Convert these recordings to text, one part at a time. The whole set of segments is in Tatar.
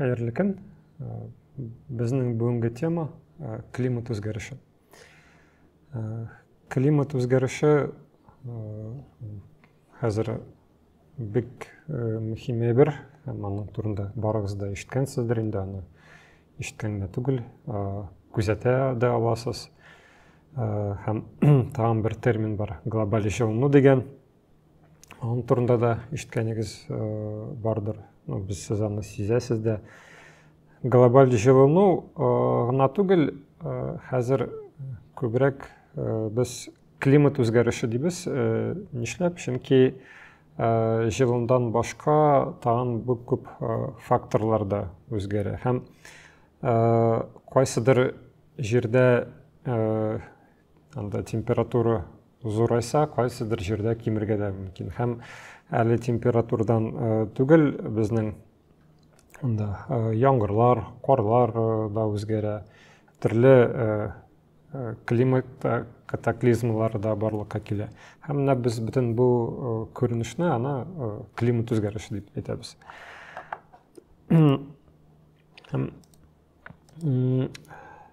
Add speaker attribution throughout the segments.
Speaker 1: Хәерле көн. Безнең бүгенге тема климат үзгәреше. Климат үзгәреше хәзер бик мөһим әйбер, һәм аның турында барыгыз да ишеткәнсездер инде аны. Ишеткән генә түгел, күзәтә дә аласыз. Һәм тагын бер термин бар, глобаль җылыну дигән. Аның турында да ишеткәнегез бардыр. Ну, без сез аны сизәсез дә. Глобаль җылыну гына түгел, хәзер күбрәк без климат үзгәреше дибез. Нишләп? Чөнки җылындан башка тагын бик күп факторлар да үзгәрә. Һәм кайсыдыр җирдә Анда температура зурайса, кайсыдыр җирдә кимергә дә мөмкин. Һәм әле температурадан э, түгел безнең анда э, яңгырлар, карлар э, да үзгәрә, төрле климат катаклизмалары да барлыкка килә. Һәм менә без бөтен бу күренешне ана климат үзгәреше дип әйтәбез. Һәм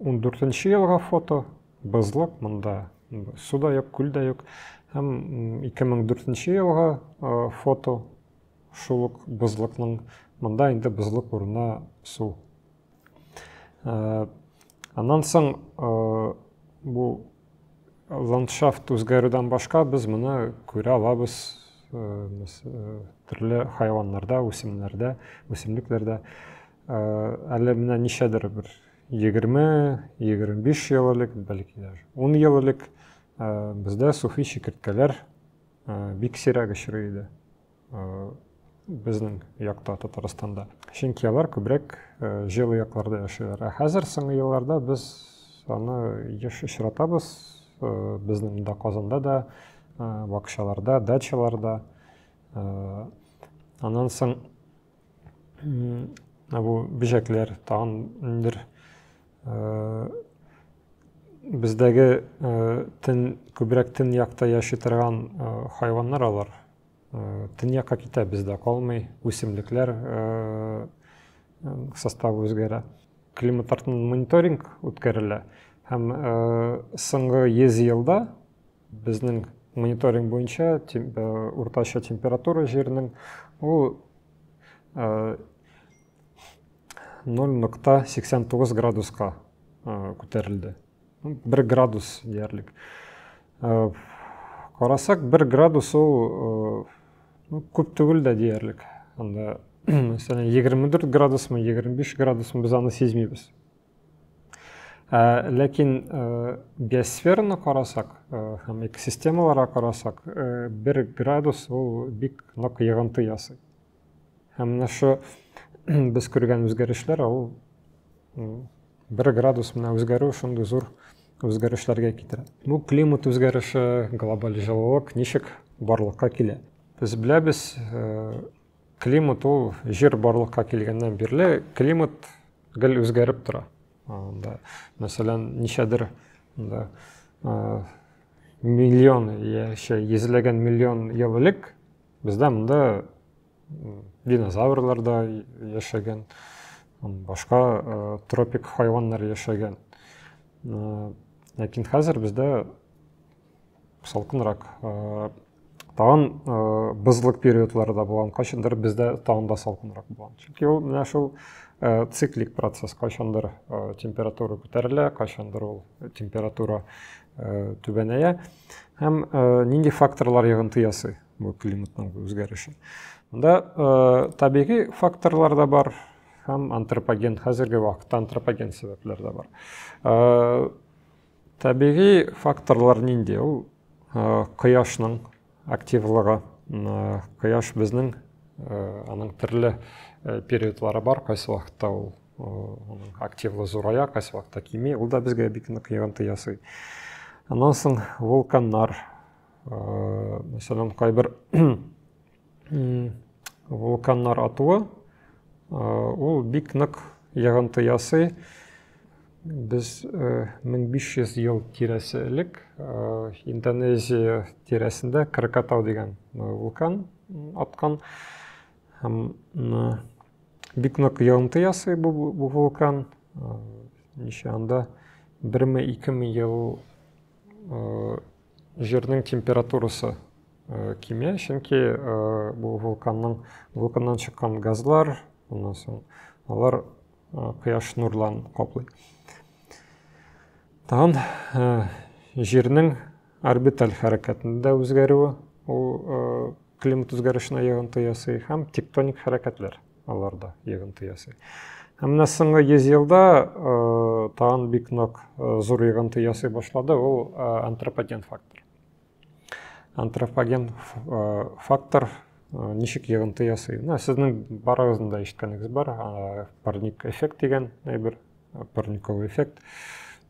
Speaker 1: 14 елга фото, бызлык, монда су да юк, күл дә юк. Һәм 2004 елга фото, шул ук бызлыкның, монда инде бызлык урынына су. Аннан соң бу ландшафт үзгәрүдән башка без моны күрә алабыз төрле хайваннарда, үсемнәрдә, үсемлекләрдә. Әле менә ничәдер бер 20-25 ел элек, бәлки дә 10 ел элек бездә суфи чикерткәләр бик сирәк очрый иде безнең якта Татарстанда. Чөнки алар күбрәк җылы якларда яшиләр. Ә хәзер соңгы елларда без аны еш очратабыз. Безнең дә Казанда да, бакчаларда, дачаларда. Аннан соң менә бу бөҗәкләр тагын ниндидер э, бездәге э, тен күбрәк тен якта яши торган э, хайваннар алар тен якка китә бездә калмый үсемлекләр составы үзгәрә климат артыннан мониторинг үткәрелә һәм соңгы йөз елда Безнең мониторинг буенча тем, э, уртача температура җирнең ул э, 0.89 градуска э, күтәрелде. 1 градус диярлек. Э, карасак, 1 градус ул э, ну, күп түгел дә диярлек. Анда, мәсәлән, 24 градусмы, 25 градусмы без аны сизмибез. Ә, ләкин ә, биосфераны карасак ә, һәм экосистемаларга карасак, ә, бер градус ул бик нык йыгынты ясый. Һәм менә шу без күргән үзгәрешләр ул бер градус менә үзгәрү шундый зур үзгәрешләргә китерә. Бу климат үзгәреше, глобаль җылылык ничек барлыкка килә? Без беләбез, ә, Климат ул җир барлыкка килгәннән бирле климат гел үзгәреп тора. Анда, мәсәлән, ничәдер анда миллион яшә, йөзләгән миллион ел элек бездә монда динозаврлар да яшәгән, башка тропик хайваннар яшәгән. Ләкин хәзер бездә салкынрак тагын э, бозлык периодлары да булган кайчандыр бездә тагын да салкынрак булган чөнки ул менә шул э, циклик процесс кайчандыр э, температура күтәрелә кайчандыр ул температура э, түбәнәя һәм э, нинди факторлар йогынты ясый бу климатның үзгәреше монда э, табигый факторлар да бар һәм антропоген хәзерге вакытта антропоген сәбәпләр дә бар э, Табигый факторлар нинди? Ул кояшның активлыгы. Кояш безнең аның төрле периодлары бар, кайсы вакытта ул активлы зурая, кайсы вакытта кими, ул да безгә бик нык йогынты ясый. Аннан соң вулканнар, мәсәлән, кайбер вулканнар атуы ул бик нык йогынты ясый без 1500 ел тирәсе элек индонезия тирәсендә кракатау дигән вулкан аткан һәм бик нык йогынты ясый бу вулкан ничә анда берме икеме ел Җирнең температурасы э, кимә, чөнки э, бу вулканның вулканнан чыккан газлар, аннан соң алар э, кояш нурларын каплый. Тагын җирнең орбиталь хәрәкәтендә үзгәрүе ул климат үзгәрешенә йогынты ясый һәм тектоник хәрәкәтләр. алар да йогынты ясый. Һәм менә соңгы 100 елда тагын бик нык зур йогынты ясый башлады, ул антропоген фактор. Антропоген фактор ничек йогынты ясый? Менә сезнең барыгызның да ишеткәнегез бар, парник эффект дигән әйбер, парниковый эффект.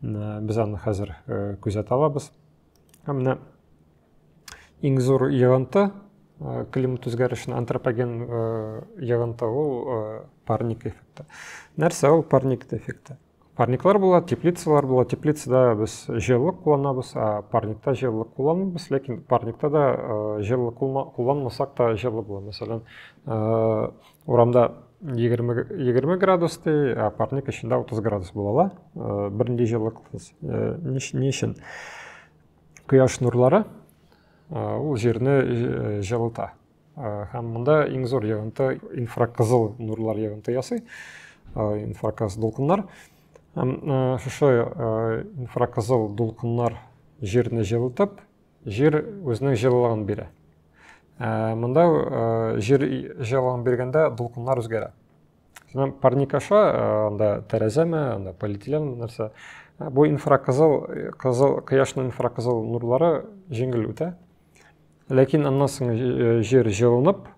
Speaker 1: Без аны хәзер күзәтә алабыз. Һәм менә иң зур йогынты климат үзгәрешен антропоген йогынты ул парник эффекты. Нәрсә ул парник эффекты? Парниклар була, теплицалар була. Теплицада без җылылык кулланабыз, а парникта җылылык кулланмыйбыз, ләкин парникта да җылылык кулланмасак та җылы була. Мәсәлән, Урамда 20 градус дей, ә парник эчендә 30 градус була ла. Э, Бернинди җылылык э, ни өчен? Кояш нурлары э, ул җирне җылыта. Һәм монда иң зур йогынты инфракызыл нурлар йогынты ясый. Инфраказ дулкыннар. Һәм шушы инфракызыл дулкыннар җирне җылытып, Җир үзенең җылылыгын бирә. Ә, монда ә, җир җылылыгын биргәндә дулкыннар үзгәрә. Сезнең парник аша ә, анда тәрәзәме, анда полиэтилен нәрсә. Ә, бу инфракызыл, кызыл, кояшның инфракызыл нурлары җиңел үтә. Ләкин аннан соң җир җылынып,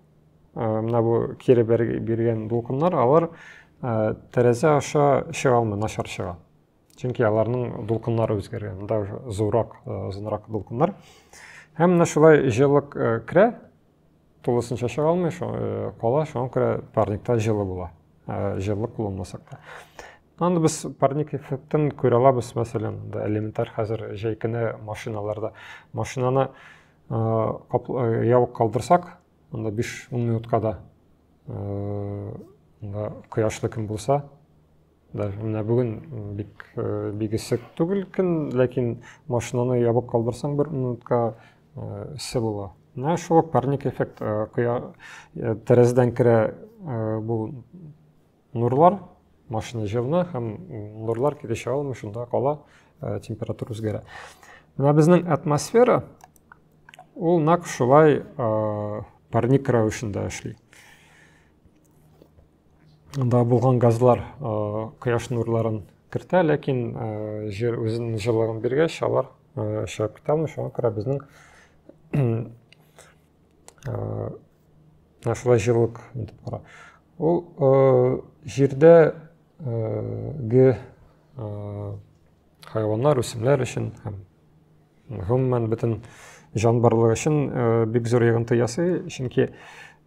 Speaker 1: менә бу кире биргән дулкыннар, алар тәрәзә аша чыга алмый, начар чыга. чөнки аларның дулкыннары үзгәргән монда уже зуррак озынрак дулкыннар һәм менә шулай җылылык керә тулысынча чыга алмый кала шуңа күрә парникта җылы була җылылык кулланмасак та аны без парник эффектын күрә алабыз мәсәлән элементар хәзер җәй көне машиналарда машинаны ябык калдырсак анда 5-10 минутка да кояшлы көн булса Да, менә бүген бик бигесек түгел көн, ләкин машинаны ябык калдырсаң бер минутка эссе була. Менә шул парник эффект кыя тәрәзәдән керә бу нурлар, машина җылына һәм нурлар килешә алмый, шунда кала температура үзгәрә. Менә безнең атмосфера ул нәкъ шулай парник рәвешендә эшли. да булган газлар кояш нурларын кертә, ләкин җир үзенең җылылыгын биргәч, алар чыгып китә алмый, шуңа күрә безнең шулай җылылык итеп тора. Ул җирдә ге хайваннар, үсемләр өчен һәм гомумән бөтен җан барлыгы өчен э, бик зур йогынты ясый чөнки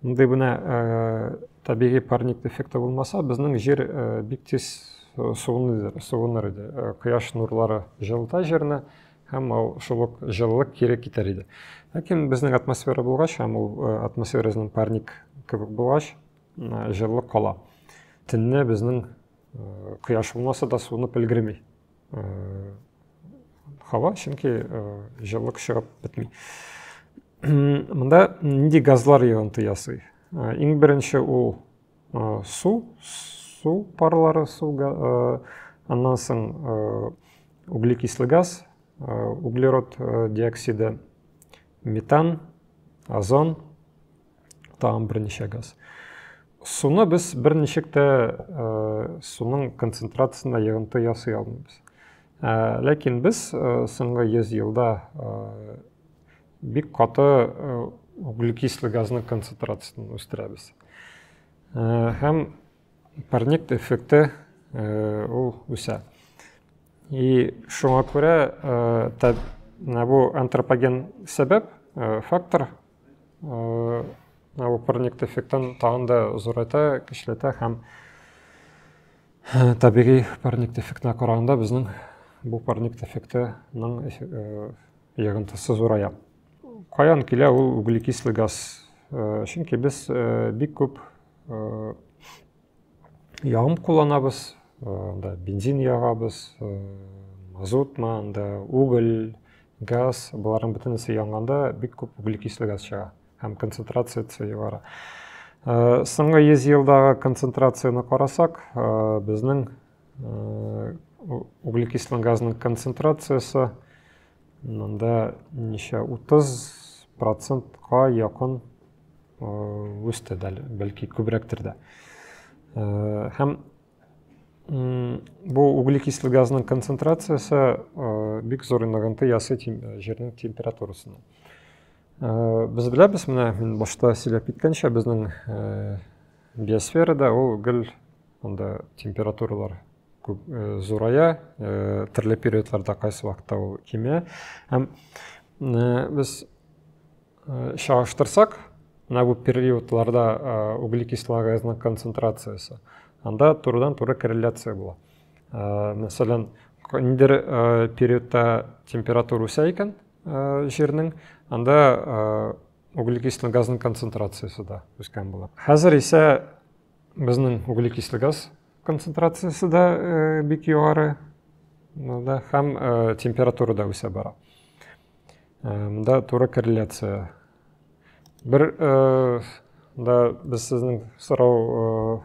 Speaker 1: мондый менә э, табигый парник дефекты булмаса безнең җир э, бик тиз суыныр, суыныр иде кояш нурлары җылыта җирне һәм ул шул ук җылылык кире китәр иде ләкин безнең атмосфера булгач һәм ул атмосферасының парник кебек булгач җылылык кала төнне безнең кояш булмаса да суынып өлгерми һава чөнки җылылык чыгып бетми монда нинди газлар йогынты ясый иң беренче ул су су парлары су аннан соң углекислый газ углерод диоксиды метан озон тагын берничә газ. Суны без берничек тә суның концентрациясенә йогынты ясый алмыйбыз. Ләкин без соңгы 100 елда бик каты углекислый газның концентрациясен үстерәбез. Һәм парник эффекты ул үсә. И шуңа күрә бу антропоген сәбәп фактор бу парник дефектын тагын да зурайта, кичләтә һәм табигый парник дефектына караганда безнең бу парник дефектының йогынтысы зурая. Каян килә ул углекислый газ? Чөнки без бик күп ягым кулланабыз, анда бензин ягабыз, мазутмы, анда уголь, газ, боларның бөтенесе янганда бик күп углекислый газ чыга һәм концентрациясе югары. Соңгы 100 елдагы концентрацияне карасак, безнең углекислый газның концентрациясе Монда ничә 30 процентка якын үсте дә, бәлки күбрәктер дә. Һәм бу углекислый газның концентрациясе бик зур инагынты ясы җирнең температурасына. Без беләбез, менә мин башта сөйләп киткәнчә, безнең Биосферада ул гел анда температуралар күп э, зурая, э, төрле периодларда кайсы вакытта ул кимә. Һәм э, без чагыштырсак, менә бу периодларда углекислого газның концентрациясе, анда турыдан-туры корреляция була. Мәсәлән, ниндер периодта температура үсә икән җирнең, анда углекислый газның концентрациясе дә үскән була. Хәзер исә безнең углекислый газ концентрациясе дә э, бик югары да, һәм э, температура да үсә бара. Э, монда туры корреляция. Бер да без сезнең сорау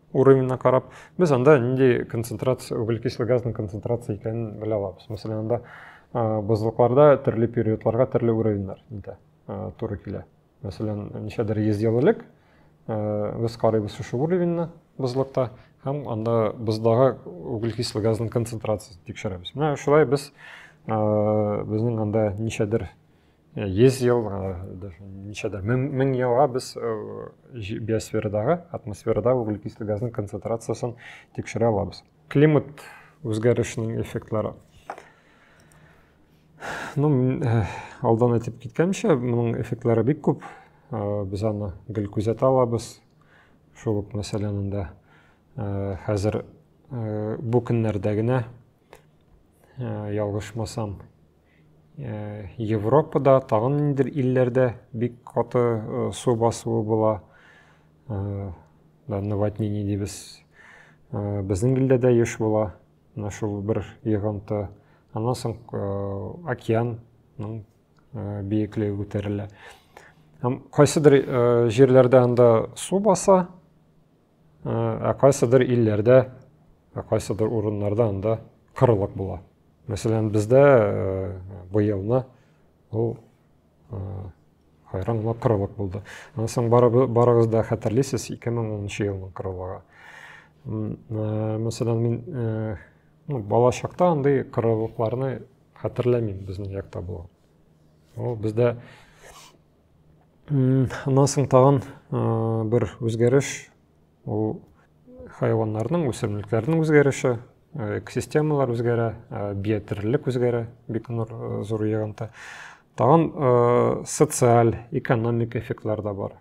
Speaker 1: уровеньна карап без анда нинди концентрация углекислый газның концентрация икәнен белә алабыз мәсәлән анда бозлыкларда төрле периодларга төрле уровеньнар инде туры килә мәсәлән ничәдер йөз ел элек без карыйбыз шушы уровеньны бозлыкта һәм анда боздагы углекислый газның концентрациясын тикшерәбез менә шулай без безнең анда ничәдер 100 ел ничәдә мең елга без биосферадағы атмосферада углекислый газның концентрациясен тикшерә алабыз климат үзгәрешенең эффектлары ну алдан әйтеп киткәнчә моның эффектлары бик күп без аны гел күзәтә алабыз шул ук мәсәлән анда хәзер бу көннәрдә генә ялгышмасам Э, Европада, тагын ниндидер илләрдә бик каты э, су басуы була. Э, наводнение дибез. Безнең илдә дә еш була. Менә шул бер йогынты. Аннан соң океанның биеклеге күтәрелә. Һәм кайсыдыр җирләрдә анда су баса, Ә кайсыдыр илләрдә, ә кайсыдыр урыннарда анда кырлык була. Мәсәлән, бездә быелны ул хайран гына кырлык булды. Аннан соң барыгыз да хәтерлисез 2010 елның кырлыгы. Мәсәлән, мин ну, бала чакта андый кырлыкларны хәтерләмим безнең якта булган. Ул бездә Аннан соң тагын бер үзгәреш ул хайваннарның, үсемлекләрнең үзгәреше, экосистемалар үзгәрә, биотерлелек үзгәрә, бик зур ягынта. Тагын социаль, экономик эффектлар да бар.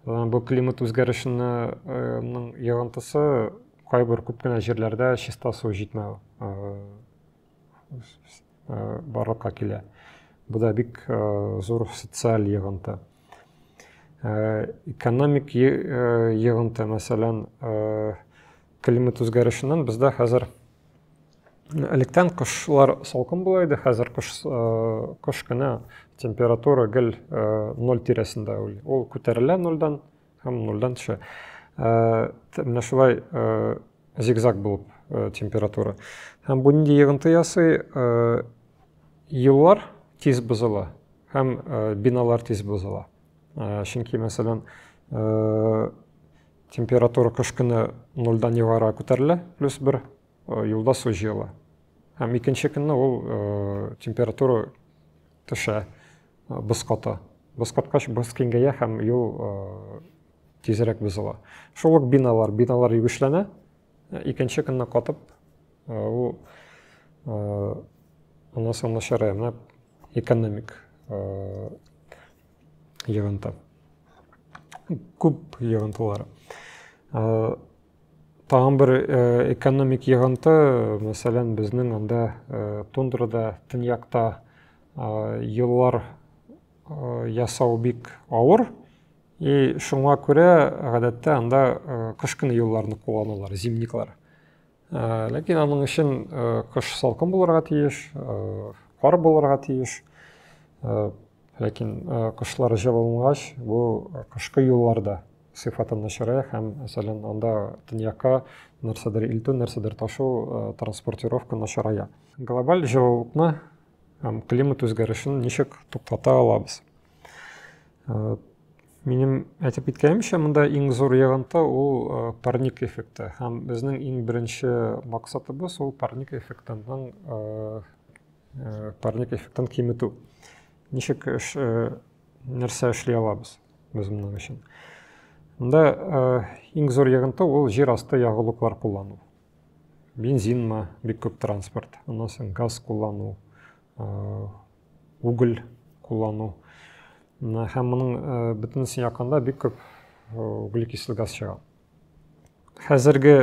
Speaker 1: Бу климат үзгәрешенең ягынтысы кайбер күп кенә җирләрдә чиста су җитмәү барлыкка килә. Бу да бик зур социаль йыгынты. Экономик йыгынты, мәсәлән, климат үзгәрешеннән бездә хәзер электән кышлар салкын була иде, хәзер кыш, кыш кына температура гел 0 тирәсендә ул. Ул күтәрелә 0-дан Һәм нульдан төшә. Менә шулай зигзаг булып температура. Һәм бу нинди йогынты ясый? Юллар тиз бозыла һәм биналар тиз бозыла. Чөнки, мәсәлән, температура кыш көне нульдан югары күтәрелә, плюс бер юлда су җыела. Һәм икенче көнне ул температура төшә боз ката. Боз каткач, боз киңгәя һәм юл тизрәк бозыла. Шул ук биналар, биналар югешләнә, икенче көнне катып, ул аннан соң начарая, менә экономик йогынты. Күп йогынтылар. Тагын бер экономик йогынты, мәсәлән, безнең анда тундрада, төньякта юллар ясау бик авыр. И шуңа күрә гадәттә анда кыш көне юлларны кулланалар, зимниклар. Ләкин аның өчен кыш салкын булырга тиеш, кар булырга тиеш. Ләкин кышлар җылынгач, бу кышкы юлларда сыйфатын начарая һәм мәсәлән анда төньякка нәрсәдер илтү нәрсәдер ташу э, транспортировка начарая глобаль җылылыкны һәм климат үзгәрешен ничек туктата алабыз э, минем әйтеп киткәнемчә монда иң зур йогынты ул э, парник эффекты һәм безнең иң беренче максатыбыз ул парник эффектының парник эффектын киметү ничек нәрсә эшли алабыз без моның өчен? Монда э, иң зур йогынты ул җир асты ягулыклар куллану. Бензинмы, бик күп транспорт, аннан соң газ куллану, э, уголь куллану. Һәм моның э, бөтенесен якында бик күп углекислый газ чыга. Хәзерге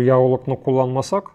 Speaker 1: ягулыкны кулланмасак,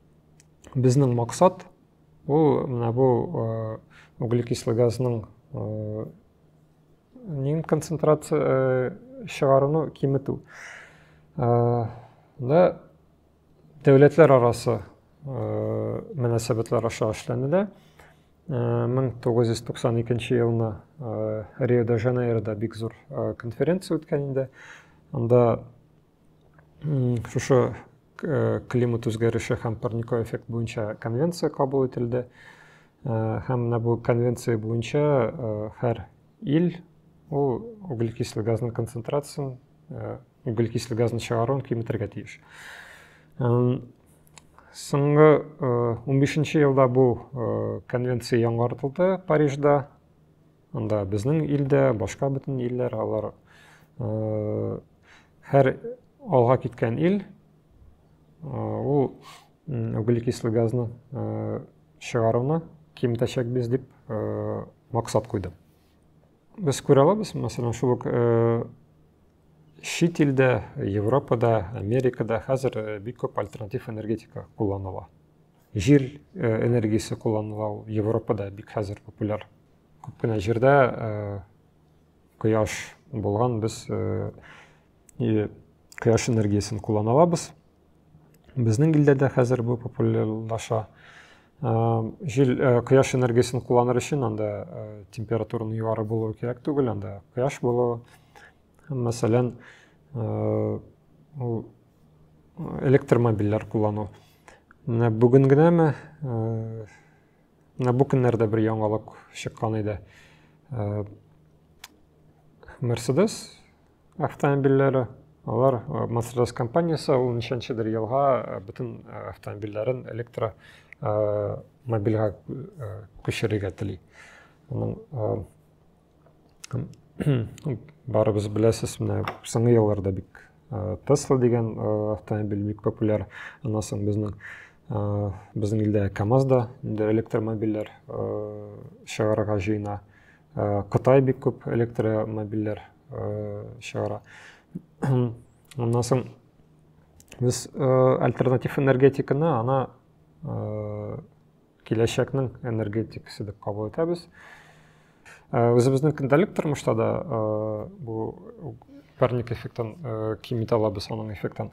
Speaker 1: Безнең максат ул менә бу углекислый газның нин концентрация чыгаруны киметү. Да дәүләтләр арасы мөнәсәбәтләр аша эшләнелә. 1992 елны Рио-де-Жанейрода бик зур конференция үткән инде. Анда шушы э, климат үзгәреше һәм парниковый эффект буенча конвенция кабул ителде э, һәм менә бу конвенция буенча э, һәр ил ул углекислый газның концентрациясын углекислый газны чыгаруын киметергә тиеш соңгы унбишенче елда бу конвенция яңартылды парижда Анда безнең илдә, башка бөтен илләр, алар һәр алга киткән ил ул углекислый газны чыгаруны киметәчәкбез дип максат куйды. Без күрә алабыз, мәсәлән, шул ук чит илдә, Европада, Америкада хәзер бик күп альтернатив энергетика кулланыла. Җил энергиясе кулланыла, Европада бик хәзер популяр Күп кенә җирдә кояш булган без кояш энергиясен куллана алабыз. Безнең илдә дә хәзер бу популярлаша. Җил кояш энергиясен кулланыр өчен анда температураның югары булуы кирәк түгел, анда кояш булуы. Мәсәлән, ул электромобильләр куллану. Менә бүген генәме Менә бу көннәрдә бер яңалык чыккан иде. Э, Mercedes автомобильләре, алар э, Mercedes компаниясе ул ничәнчедер елга э, бөтен автомобильләрен электро мобильгә күчерергә тели. Аның барыбыз беләсез менә соңгы елларда бик тесла дигән автомобиль бик популяр аннан соң безнең безнең илдә камаз да инде электромобильләр чыгарырга җыена кытай бик күп электромобильләр чыгара аннан соң без альтернатив энергетиканы ана киләчәкнең энергетикасы дип кабул итәбез үзебезнең көндәлек тормышта да бу парник эффектын кими алабыз аның эффектын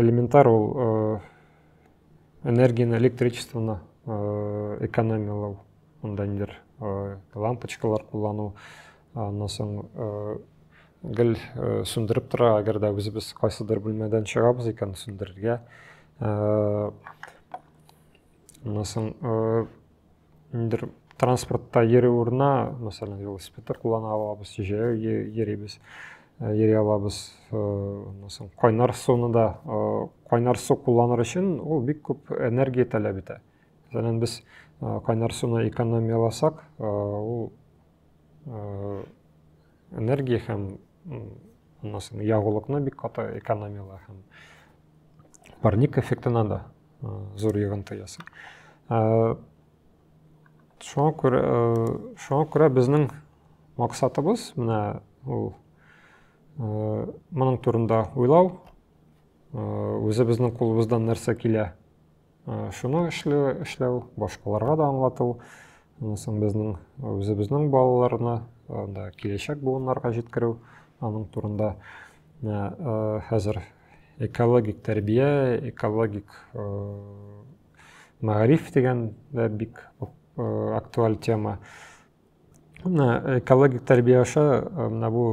Speaker 1: элементар ул энергияны электричествоны экономиялау мындай ниләр лампочкалар куллану аннан соң гел сүндереп тора әгәр дә үзебез кайсыдыр бүлмәдән чыгабыз икән сүндерергә ә, мысым, ә, ниндер транспортта йөри урына, мәсәлән, велосипедтер куллана алабыз, җәяү йөрибез, йөри алабыз. Мәсәлән, кайнар суны да, кайнар су кулланыр өчен ул бик күп энергия таләп итә. Мәсәлән, без кайнар суны экономияласак, ул энергия һәм аннан соң ягулыкны бик каты экономияләр һәм парник эффектына да зур йогынты ясый шуңа күрә шуңа күрә безнең максатыбыз менә ул моның турында уйлау үзебезнең кулыбыздан нәрсә килә Шуны эшләү, эшләү, башкаларга да аңлату, Аннан безнең үзебезнең балаларны анда киләчәк буыннарга җиткерү аның турында хәзер экологик тәрбия, экологик мәгариф дигән дә бик актуаль тема. Менә экологик тәрбия аша менә бу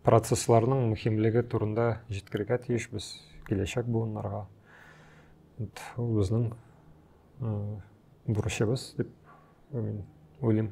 Speaker 1: процессларның мөһимлеге турында җиткерергә тиешбез киләчәк буыннарга. Ул безнең бурычыбыз дип уйлыйм.